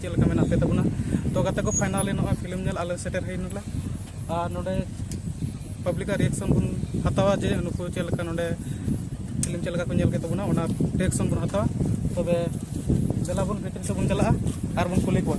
ᱪᱮᱫ ᱞᱮᱠᱟ ᱢᱮᱱᱟᱜ ᱯᱮ ᱛᱟᱵᱚᱱᱟ ᱛᱚ ᱜᱟᱛᱮ ᱠᱚ ᱯᱷᱟᱭᱱᱟᱞᱤ ᱱᱚᱜᱼᱚᱭ ᱯᱷᱤᱞᱢ ᱧᱮᱞ ᱟᱞᱮ ᱥᱮᱴᱮᱨ ᱦᱩᱭ ᱱᱟᱞᱮ ᱟᱨ ᱱᱚᱰᱮ ᱯᱟᱵᱽᱞᱤᱠᱟᱜ ᱨᱤᱭᱮᱠᱥᱚᱱ ᱵᱚᱱ ᱦᱟᱛᱟᱣᱟ ᱡᱮ ᱱᱩᱠᱩ ᱪᱮᱫ ᱞᱮᱠᱟ ᱱᱚᱰᱮ ᱯᱷᱤᱞᱢ ᱪᱮᱫ ᱞᱮᱠᱟ ᱠᱚ ᱧᱮᱞ ᱠᱮᱫ ᱛᱟᱵᱚᱱᱟ ᱚᱱᱟ ᱨᱤᱭᱮᱠᱥᱚᱱ ᱵᱚᱱ ᱦᱟᱛᱟᱣᱟ ᱛᱚᱵᱮ ᱫᱮᱞᱟ ᱵᱚᱱ ᱵᱷᱤᱛᱨᱤ ᱥᱮᱫ ᱵᱚᱱ ᱪᱟᱞᱟᱜᱼᱟ ᱟᱨ ᱵᱚᱱ ᱠᱩᱞᱤ ᱠᱚᱣᱟ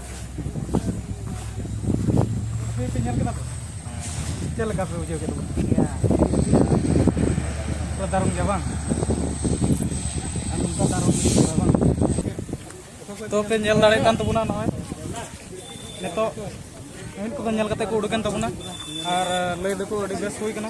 ᱪᱮᱫ ᱞᱮᱠᱟ ᱯᱮ ᱵᱩᱡᱷᱟᱹᱣ ᱠᱮᱫᱟ ᱛᱚ ᱫᱟᱨᱩᱢ ᱜᱮᱭᱟ ᱵᱟᱝ ᱟᱨ ᱱᱚᱝᱠᱟ ᱫᱟᱨᱩᱢ ᱜᱮᱭᱟ ᱵᱟᱝ ᱛᱚ ᱯᱮ ᱧᱮᱞ ᱫᱟᱲᱮᱭᱟᱜ ᱠᱟᱱ ᱛᱟᱵᱚᱱᱟ ᱱᱚᱜᱼᱚᱭ ᱱᱤᱛᱚᱜ ᱢᱤᱫ ᱠᱚᱫᱚ ᱧᱮᱞ ᱠᱟᱛᱮ ᱠᱚ ᱩᱰᱩᱠᱮᱱ ᱛᱟᱵᱚᱱᱟ ᱟᱨ ᱞᱟᱹᱭ ᱫᱚᱠᱚ ᱟᱹᱰᱤ ᱵᱮᱥ ᱦᱩᱭ ᱠᱟᱱᱟ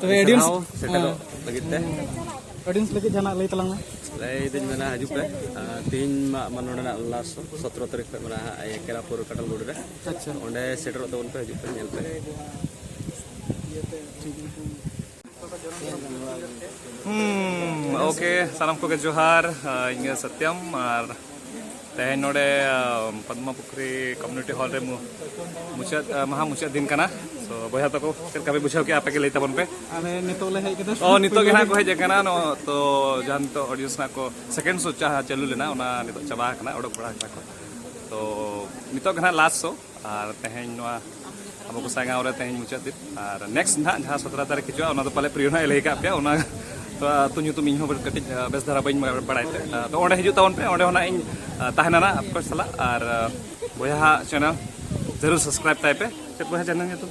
ᱛᱚᱵᱮ ᱚᱰᱤᱭᱮᱱᱥ ᱥᱮᱴᱮᱨᱚᱜ ᱞᱟᱹᱜᱤᱫ ᱛᱮ ᱚᱰᱤᱭᱮᱱᱥ ᱞᱟᱹᱜᱤᱫ ᱡᱟᱦᱟᱱᱟᱜ ᱞᱟᱹᱭ ᱛᱟᱞᱟᱝ ᱢᱮ ᱞᱟᱹᱭ ᱫᱟᱹᱧ ᱢᱮᱱᱟ ᱦᱤᱡᱩᱜ ᱯᱮ ᱛᱮᱦᱮᱧ ᱢᱟ ᱱᱚᱰᱮᱱᱟᱜ ᱞᱟᱥᱴ ᱥᱚᱛᱨᱚ ᱛᱟᱹᱨᱤᱠᱷ ᱠᱷᱚᱱ ᱢᱮᱱᱟᱜᱼᱟ ᱠᱮᱨᱟᱯᱩᱨ ᱠᱟᱴᱟᱞ ᱜᱳᱰ ᱨᱮ ᱟᱪᱪᱷᱟ ᱚᱸᱰᱮ ᱥᱮᱴᱮᱨᱚᱜ ᱛᱟᱵᱚᱱ ᱯᱮ ᱦᱤᱡᱩᱜ ᱯᱮ ᱧᱮᱞ ᱯᱮ ᱦᱩᱸ ᱳᱠᱮ ᱥᱟᱱᱟᱢ ᱠᱚᱜᱮ ᱡᱚᱦᱟᱨ ᱤᱧ ᱥᱚᱛᱭᱚᱢ ᱟᱨ ᱛᱮᱦᱮᱧ ᱱᱚᱰᱮ ᱯᱚᱫᱢᱟ ᱯᱩᱠᱷᱨᱤ ᱠᱚᱢᱤᱩᱱᱤᱴᱤ ᱦᱚᱞ ᱨᱮ ᱢᱩᱪᱟᱹᱫ ᱢᱟᱦᱟ ᱢᱩᱪᱟᱹᱫ ᱫᱤᱱ ᱠᱟᱱᱟ ᱛᱚ ᱵᱚᱭᱦᱟ ᱛᱟᱠᱚ ᱪᱮᱫ ᱞᱮᱠᱟ ᱯᱮ ᱵᱩᱡᱷᱟᱹᱣ ᱠᱮᱜᱼᱟ ᱟᱯᱮ ᱜᱮ ᱞᱟᱹᱭ ᱛᱟᱵᱚᱱ ᱯᱮ ᱟᱞᱮ ᱱᱤᱛᱚᱜ ᱞᱮ ᱦᱮᱡ ᱠᱟᱱᱟ ᱚ ᱱᱤᱛᱚᱜ ᱜᱮ ᱱᱟᱜ ᱠᱚ ᱦᱮᱡ ᱟᱠᱟᱱᱟ ᱱᱚ ᱛᱚ ᱡᱟᱦᱟᱸ ᱱᱤᱛᱚᱜ ᱚᱰᱤᱭᱮᱱᱥ ᱱᱟᱜ ᱠᱚ ᱥᱮᱠᱮᱱᱰ ᱥᱳ ᱡᱟᱦᱟᱸ ᱪᱟᱹᱞᱩ ᱞᱮᱱᱟ ᱚᱱᱟ ᱱᱤᱛᱚᱜ ᱪᱟᱵᱟ ᱟᱠᱟᱱᱟ ᱚᱰᱚᱠ ᱵᱟᱲᱟ ᱟᱠᱟᱱᱟ ᱠᱚ ᱛᱚ ᱱᱤᱛᱚᱜ ᱜᱮ ᱱᱟᱜ ᱞᱟᱥᱴ ᱥᱳ ᱟᱨ ᱛᱮᱦᱮᱧ ᱱᱚᱣᱟ ᱟᱵᱚ ᱜᱚᱥᱟᱭ ᱜᱟᱶ ᱨᱮ ᱛᱮᱦᱮᱧ ᱢᱩᱪᱟᱹᱫ ᱫᱤᱱ ᱟᱨ ᱱᱮᱠᱥᱴ ᱱᱟᱦᱟᱜ ᱡᱟᱦᱟᱸ ᱥᱚᱛᱨᱟ ᱛᱟᱹᱨᱤᱠᱷ ᱦᱤᱡᱩᱜᱼᱟ ᱚᱱᱟ ᱫᱚ ᱯᱟᱞᱮ ᱯᱨᱤᱭᱳ ᱱᱟᱦᱟᱜ ᱞᱟᱹᱭ ᱠᱟᱜ ᱯᱮᱭᱟ ᱚᱱᱟ ᱛᱚ ᱟᱹᱛᱩ ᱧᱩᱛᱩᱢ ᱤᱧ ᱦᱚᱸ ᱠᱟᱹᱴᱤᱡ ᱵᱮᱥ ᱫᱷᱟᱨᱟ ᱵᱟᱹᱧ ᱵᱟᱲᱟᱭ ᱛᱮ ᱛᱚ ᱚᱸᱰᱮ ᱦᱤᱡᱩᱜ ᱛᱟᱵᱚᱱ ᱯᱮ ᱚᱸᱰᱮ ᱦᱚᱸ ᱱᱟᱦᱟᱜ ᱤᱧ ᱛᱟᱦᱮᱱᱟ ᱱᱟᱦᱟᱜ ᱟᱯᱮ ᱥᱟᱞᱟᱜ ᱟᱨ ᱵᱚᱭᱦᱟ ᱪᱮᱱᱮᱞ ᱡᱟᱹᱨᱩᱲ ᱥᱟᱵᱥᱠᱨᱟᱭᱤᱵ ᱛᱟᱭ ᱯᱮ ᱪᱮᱫ ᱵᱚᱭᱦᱟ ᱪᱮᱱᱮᱞ ᱧᱩᱛᱩᱢ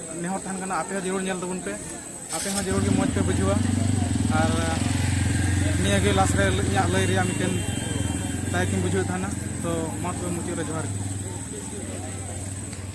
ᱱᱮᱦᱚᱨ ᱛᱟᱦᱮᱱ ᱠᱟᱱᱟ ᱟᱯᱮ ᱦᱚᱸ ᱡᱟᱹᱨᱩᱲ ᱧᱮᱞ ᱛᱟᱵᱚᱱ ᱯᱮ ᱟᱯᱮ ᱦᱚᱸ ᱡᱟᱹᱨᱩᱲ ᱜᱮ ᱢᱚᱡᱽ ᱯᱮ ᱵᱩᱡᱷᱟᱹᱣᱟ ᱟᱨ ᱱᱤᱭᱟᱹ ᱜᱮ ᱞᱟᱥ ᱨᱮ ᱤᱧᱟᱹᱜ ᱞᱟᱹᱭ ᱨᱮᱭᱟᱜ ᱢᱤᱫᱴᱮᱱ ᱫᱟᱭᱠᱤᱧ ᱵᱩᱡᱷᱟᱹᱣ ᱛᱟᱦᱮᱱᱟ ᱛᱚ ᱢᱟ ᱛᱚᱵᱮ ᱢᱩᱪᱟᱹᱫ ᱨᱮ ᱡᱚᱦᱟᱨ ᱜᱮ